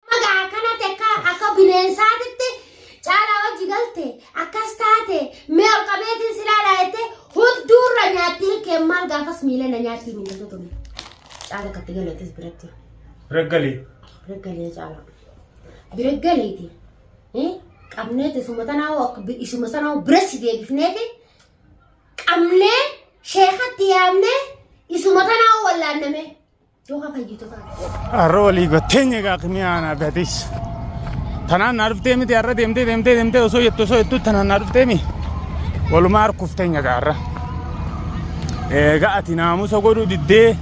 Amma gaa akkanatti akka akka bineensaatitti caalaa wajji galte akkas taate mee ol qabeetiin si laalaa jettee hunduurra nyaatti hirkeen maal gaafas miila na nyaatti miila tokko miila. Caala akkatti galeetis biratti. Raggalee. Biraggalee caala. Biraggaleeti. Eh, Qabneeti isuma tanaa hoo akka bi- isuma sanaa hoo bira si deebifneeti qabnee sheekatti yaamnee isuma tanaa hoo wallaannamee. Dooka fayyitotaati. Har'a walii gotteenye egaa kimiyaa naaf atis. Tanaan naa dhuftee miti har'a deemtee deemtee deemtee osoo jettu osoo jettu tanaan naa dhuftee mi. Walumaa harkufteenye egaa har'a. Egaa ati naamusa godhuu diddee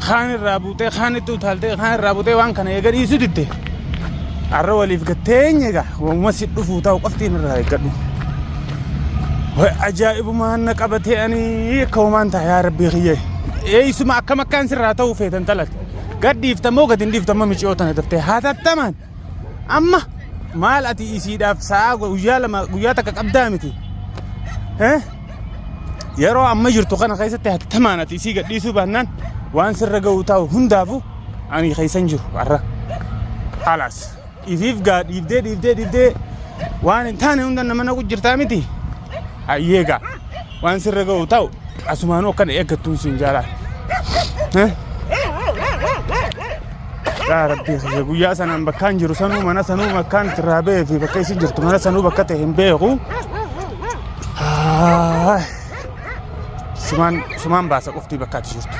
kaan irraa buutee kaan itti utaaltee kaan irraa buutee waan kana eega dhiisuu diddee. Har'a waliif gatteenye egaa waamuma si dhufuu ta'u qoftiin irraa eeggadhu. Way ajaa'ibumaan na qabatee ani akka homaan ta'a yaa rabbii kiyyee. eeysuma akkam akkaan sirraa ta'uu feetan talate gad dhiifta moo gad hin dhiifta amma miciyoo tana daftee hatattamaan amma maal ati isiidhaaf sa'aa guyyaa lama guyyaa takka qabdaa miti Eh? yeroo amma jirtu kana keessatti hatattamaan ati isii gad dhiisuu baannaan waan sirra ga'u taa'u hundaafu ani keessan jiru har'a halaas. Ifiif gaa dhiibdee dhiibdee dhiibdee waan hin taane hunda nama naqu jirtaa miti. Hayyee gaa waan sirra ga'u ta'u asumaanuu akkana eeggattuun siin jaalaa. Eh? Yaa rabbi kiyya guyyaa sanaan bakkaan jiru sanuu mana sanuu bakkaan irraa ba'ee fi bakka isin jirtu mana sanuu bakka ta'e hin beeku. Haay. Sumaan sumaan baasa qoftii bakka ati jirtu.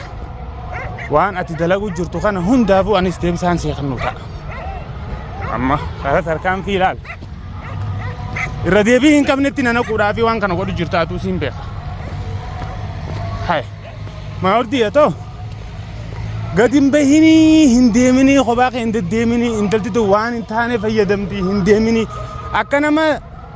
Waan ati dalaguu jirtu kana hundaafuu anis deebisaan seeqannuu ta'a. amma karaa tarkaanfii ilaal irra deebii hin qabnetti nana quudhaa fi waan kana godhu jirtaatuu siin beeka hay maa ordii yatoo gadi hin bahinii hin deeminii kophaa kee hin deddeeminii intalti tun waan hin taane fayyadamti hin deeminii akka nama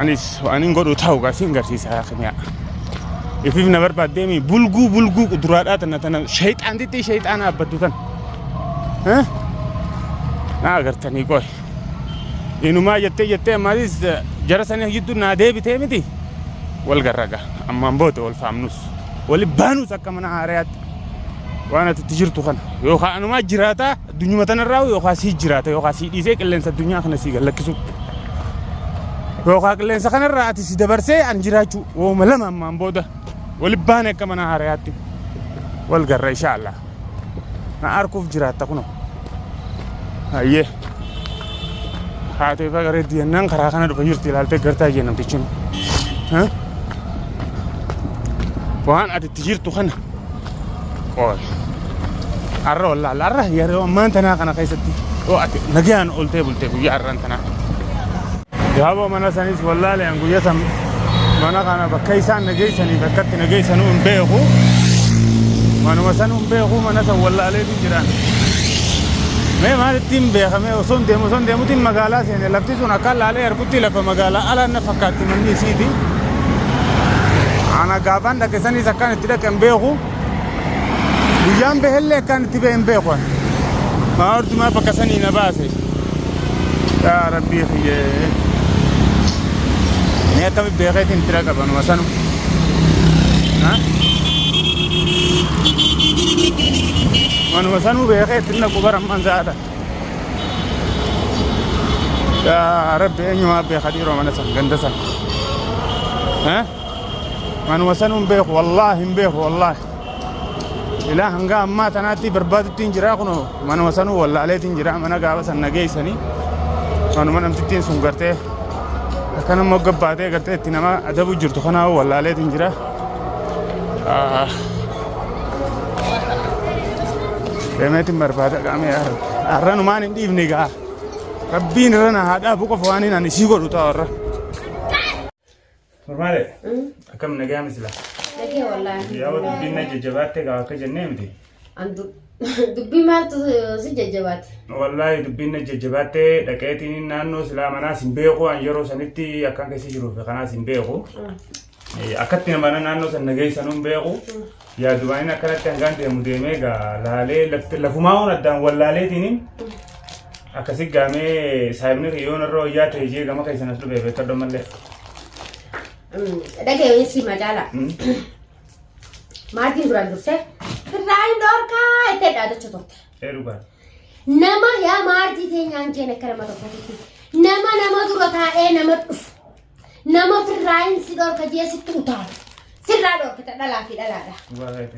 Anis waan hin godhu ta'u gaa siin garsiisa yaa kimiyaa. Ifiif na barbaaddee mi bulguu bulguu quduraadhaa tana tana shayxaan xixiqqii shayxaana abbaddu tana. Eh? Naa agartanii qoy. Inumaa jettee jettee ammaatis eh, jara sanii gidduu naa deebitee miti. Wal garraga ammaan booda wal faamnus wali baanus akka mana haarayaatti waan ati itti jirtu kana yookaan anumaa jiraataa Addunyuma tanarraa yookaan sii jiraata yookaan sii dhiisee qilleensa addunyaa kana sii gallakkisuu. Yookaan qilleensa kanarraa ati si dabarsee an jiraachuu. Wooma lama ammaan booda wali baane akka mana haarayaatti wal garra inshaallah. Na arkuuf jiraatta kunoo. Hayyee. Haatee faga reeddi jennaan karaa kana dhufa jirti ilaaltee gartaa jee namtichi. Waan ati itti jirtu kana Qoy. Arra wallaal arra yeroo ammaan tanaa kana keessatti yoo ati nagaan oltee bultee guyyaa arran tanaa. Gaaboo mana sanis wallaalee an guyyaa san mana kana bakka isaan nageessaniif akkatti nageessanuu hin beeku. Manuma sanuu hin beeku mana san wallaalee hin jiraan. Mee maalittiin beekamee osoo hin deemu osoo hin deemutiin magaalaa seene lafti sun akka laalee arguu Tti lafa magaalaa alaan na fakkaatti manni isiiti. Ana gaafaan dhaqe saniis akkaan itti dhaqe hin beeku. Guyyaan bahellee akkaan itti bahe hin beeku ani. Maa hortumaa bakka sanii na baase. Yaa rabbii kiyyee. Mee akkamitti beekeetiin itti dhaqa banuma sanu. Ha? Manuma sanuu beekee itti dhaqu bara amman saata. Yaa rabbi eenyumaa beeka dhiiroo mana san ganda san. Eh? Manuma sanuu hin beeku wallaahi hin beeku wallaahi. Ilaa hanga ammaa tanaatti barbaadutti hin jiraa kunoo manuma sanuu wallaaleetti hin jiraa mana gaafa san nageessanii manuma namtittiin sun gartee akkanammoo gabbaatee gartee itti nama adabuu jirtu kanaa wallaaleetti hin jiraa. Deemeetiin barbaada qaamee har'a. Har'a numaan hin dhiifne gaa. Rabbiin irra na haa dhaabu qofa waan hin ani sii godhu ta'a har'a. Normaale akkam nagaa misila. Nagee wallaahi. Yaa dubbiin na jajjabaatte gaa akka jennee miti. Andu dubbii maaltu si jajjabaate? Wallaahi dubbiin na jajjabaatte dhaqeetiin naannoo silaa manaas hin beeku an yeroo sanitti akkaan keessa jiruuf kanaas hin beeku. Akkatti amana naannoo san na geessan hin beeku. Yaa Dubaayin akkanatti hangaan deemu deemee gaa laalee lafti- lafumaa oon addaan wal laaleetiin akkasi gaamee saayibni kiyyoon irra wayyaa ta'e jee gama keessan as dhufee beektadha mallee. Dhaga'ee si magaala. Maatiin duraan dursee firraa hin dhorkaa itti dhaadacha turte. Ee dhugaa. Nama yaa maatii teenyaan keenya akka nama tokkotti. Nama nama dura taa'ee nama dhufu. Nama firraa hin si dhorka jee sitti utaala. Firraa dhorkita dhalaa fi dhalaadha.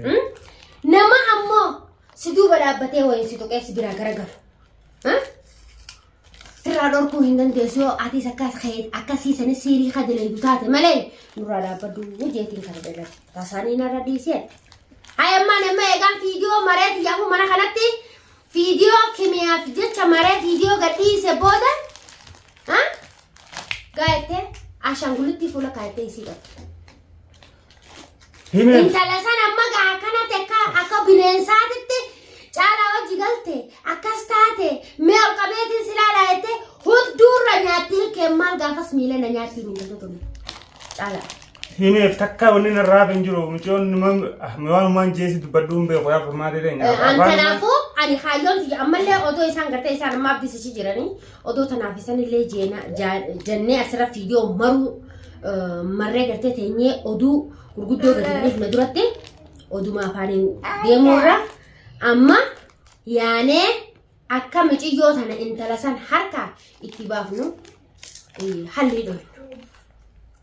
Hmm? Nama ammoo si duuba dhaabbatee wayiin si tuqee si biraa garagalu. Hmm? Firraa dhorkuu hin dandeessu yoo atiis akkas ka'e- akkasii sanis siirii ka daleedu taate malee nurraa dhaabbadhu jeetiin kana dhalate. Tasaanii narra dhiisee. Hayi ammaa nama eegaan fiidiyoo maree xiyyaafuu mana kanatti fiidiyoo kimiyaaf jecha maree fiidiyoo gadhiise booda Gaa'ettee ashaangulittii fuula kaa'ettee isii qabdi. Himee. Intala san amma gaa akkana tekka akka bineensaatitti caalaa hojii galte akkas taate mee ol qabeetiin si laalaa jettee hunduurra nyaatti ilkeen maal gaafas miila na nyaatti hin hundatu ture. Caalaa. Himeef takka wanni narraa hin jiru mucoon numa waan waan jeesi dubbadhu hin beeku yaa furmaatee ta'e. An kanaafuu ani kaayyoon tiyya ammallee otoo isaan gartee isaan amma abdisichi jiranii odoo tanaaf isanillee jeena jaa- jannee asirra fiidiyoo maruu eh, marree gartee teenyee oduu gurguddoo gadi bu'uuf na duratti oduma afaaniin deemuurra amma yaanee akka miciyyoo tana intala san harka itti baafnu eh, hallii dhoofnu.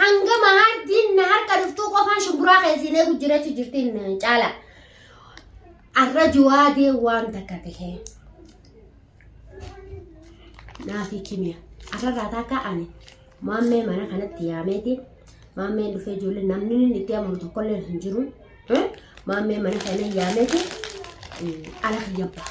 Hanga mahaartiin na harka dhuftuu qofaan shubburaa keessin eegu jirachu jirtiin caala. Arra juwaadee waan takka tahee. Naafi kimiya. Arrarraa takka ani maammee mana kanatti yaameeti. Maammeen dhufee ijoollee namni inni itti amanu tokkollee hin jiru. Maammee mana kana yaameeti. Ala kiyya ba'a.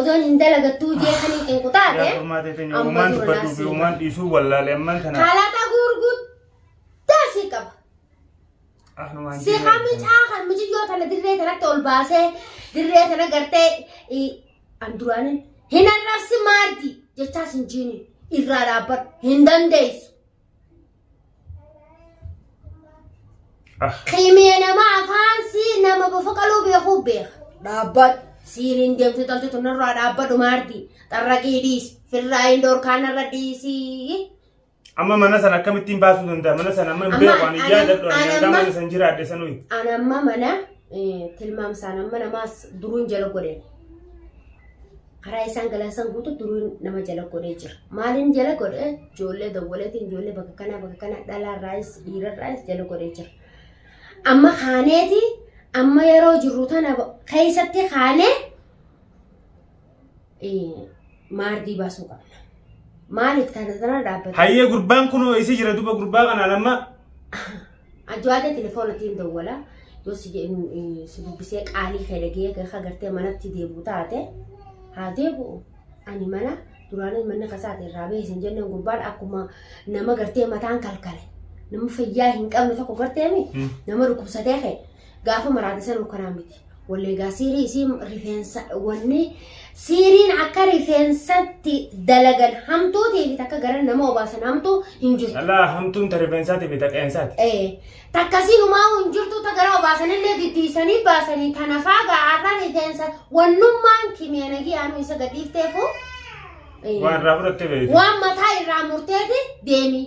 Odoon hin dalagattuu jeetanii qinqu taate. Yaa furmaatee teenya Amma uumaan dura dubbadhuu fi naasii. uumaan dhiisuu wallaalee ammaan tana. Kalaqa gurguddaa si qaba. Ahlumaan Si diinaa- hamicaa kan muciyyoo tana dirree tanatti ol baasee dirree tana gartee i- an duraanin hin arrabsi maaddi jechaas hin jiini irraa dhaabbadhu hin dandeessu. Kimiya nama afaan si nama bofa qaluu beekuu beeka. Dhaabbadhu. Siiriin deemtuu taltu tunarraa dhaabbadhu maardi. Xarraqii dhiis. Firraa hin dorkaanarra dhiisii. Amma mana sana akkamittiin baasuu danda'a? Mana sana amma hin Amma- beeku ani ana- yaadadhu ani ana hangaa amma- mana sana jiraadhe sanuyi. Ani amma mana eh, tilmaamsaan amma namaas duruun jala godhe. karaa isaan galan san guutu duruu nama jala godhee jira. Maaliin jala godhe ijoollee dawwaleetiin ijoollee bakka kanaa bakka kanaa dhalaarraayis dhiirarraayis jala godhee jira. Amma kaaneeti amma yeroo jirru tana keessatti kaanee maardii baasuu qabna. Maaliif taana tana dhaabbata? Hayyee gurbaan kun isi jira duba gurbaa kanaan amma Ajaa'ibee telefoona tiin dawwala yoo si jedhu si dubbisee qaalii kee dhagee ka gartee manatti deebi'u taate haa deebi'u ani mana duraanis manni kasaati irraa bahee sin jenneen gurbaan akkuma nama gartee mataan kalkale nama fayyaa hin qabne tokko gartee mi nama dhukkubsatee kee gaafa maraate sanuu kanaa miti. Walleegaa siirii isii rifeensa wanni siiriin akka rifeensatti dalagan hamtuu ta'eef takka gara nama obaasan hamtuu hin jirtu. Alaa hamtuun ta rifeensaati fi ta qeensaati. Ee takkasiin umaa'uu hin jirtu ta gara obaasanillee diddiisanii baasanii tana faagaa arra rifeensa wannummaan kimiyanagii aanuu isa gadhiifteefu. Waan irraa fudhattee beekte. Waan mataa irraa murteeti deemii.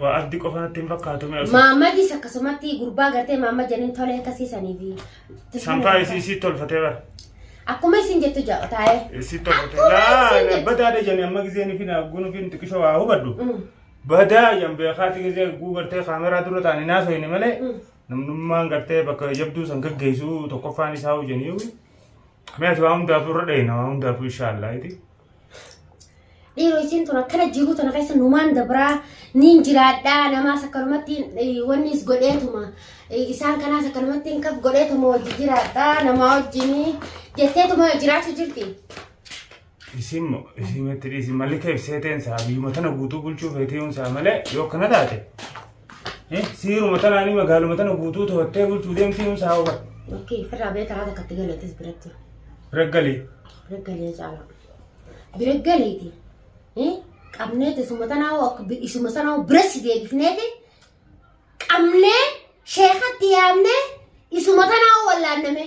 Waa abdi qofa natti hin fakkaatu mee osoo. Maammadis akkasumatti gurbaa gartee maamma janiin tolee akkasii saniif. Sanfaa isii isii tolfatee bara. Akkuma isin jettu ja'a taa'ee. Isii tolfatee. Akkuma Laa isin jettu. badaa dha jani amma gizee nufi na guu nufi xiqishoo waa hubadhu. Mm. Badaa yan beekaati gizee guu gartee kaameraa dura taa'anii naasoo hin malee. Mm. Namnummaan gartee bakka jabduu san gaggeessu tokkoffaan isaa hojjanii. Mee ati waa hundaafuu irra dheeyna waa hundaafuu inshaallah iti. Dhiiroo isiin tun akkana jiruu tana keessa numaan dabraa niin jiraadhaa namaas akkanumatti eh, wannis godheetuma eh, isaan kanaas akkanumatti hin kaf godheetuma wajji jiraadhaa namaa wajjinii jetteetuma jiraachuu jirti. Isiin moo isiin itti dhiisi malli kee ibsee ta'een isaa biyyuma tana guutuu bulchuu feetee yoon isaa malee yoo akkana taate eh, siiruma tanaanii magaaluma tana guutuu to'attee bulchuu deemtii yoon isaa hawwa Lakkii firraa bee karaa takkatti galeetis biratti. reggalii Biraggalee caalaa. Biraggaleeti. Qabneeti isuma tanaa akka bi- isuma sanaa biratti deebifneeti. Qabnee sheekatti yaamnee isuma tanaa wallaanname.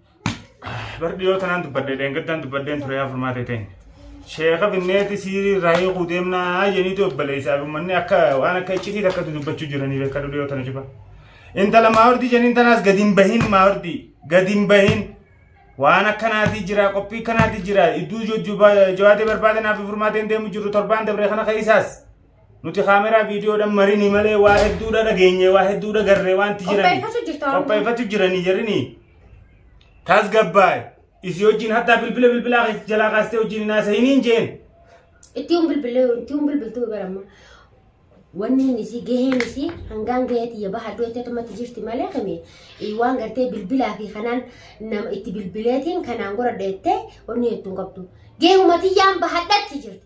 Bar dhiyoo tanaan dubbadde dheengaddaan dubbaddeen ture yaa furmaatee ta'in. Sheeka binneeti siirii irraa hiikuu deemnaa jeniitu obboleessaa fi uummanni akka waan akka iccitii takka dubbachuu jiranii beekaa dhiyoo tana cufa. Intala maawardii jeniin tanaas gadi hin bahin maawardii gadi hin bahin. Waan akkanaatii jira qophii akkanaatii jira iddoo jojjubaa jawaatee barbaadanaaf furmaateen deemu jiru torbaan dabree kana keessaas. Nuti kaameraa viidiyoodhaan marinii malee waa hedduudha dhageenye waa hedduudha garree waanti jirani. Qopheeffachuu jirta waan Qopheeffachuu jiranii jirini. Tasgabbaa'e. Isii wajjin hattaa bilbila bilbilaa keessa jalaa kaastee wajjin hin haasa'iniin jeen. Itti yoon bilbilee itti yoon bilbiltuu baramma. Wanni inni isii gaheen isii hangaan gahee tiyya baha iddoo itti atumatti jirti malee kame eh, waan gartee bilbilaa fi kanaan nama itti bilbileetiin kanaan gora dheettee wanni hedduu hin qabdu. Gahee uumatiyyaan bahadhatti jirti.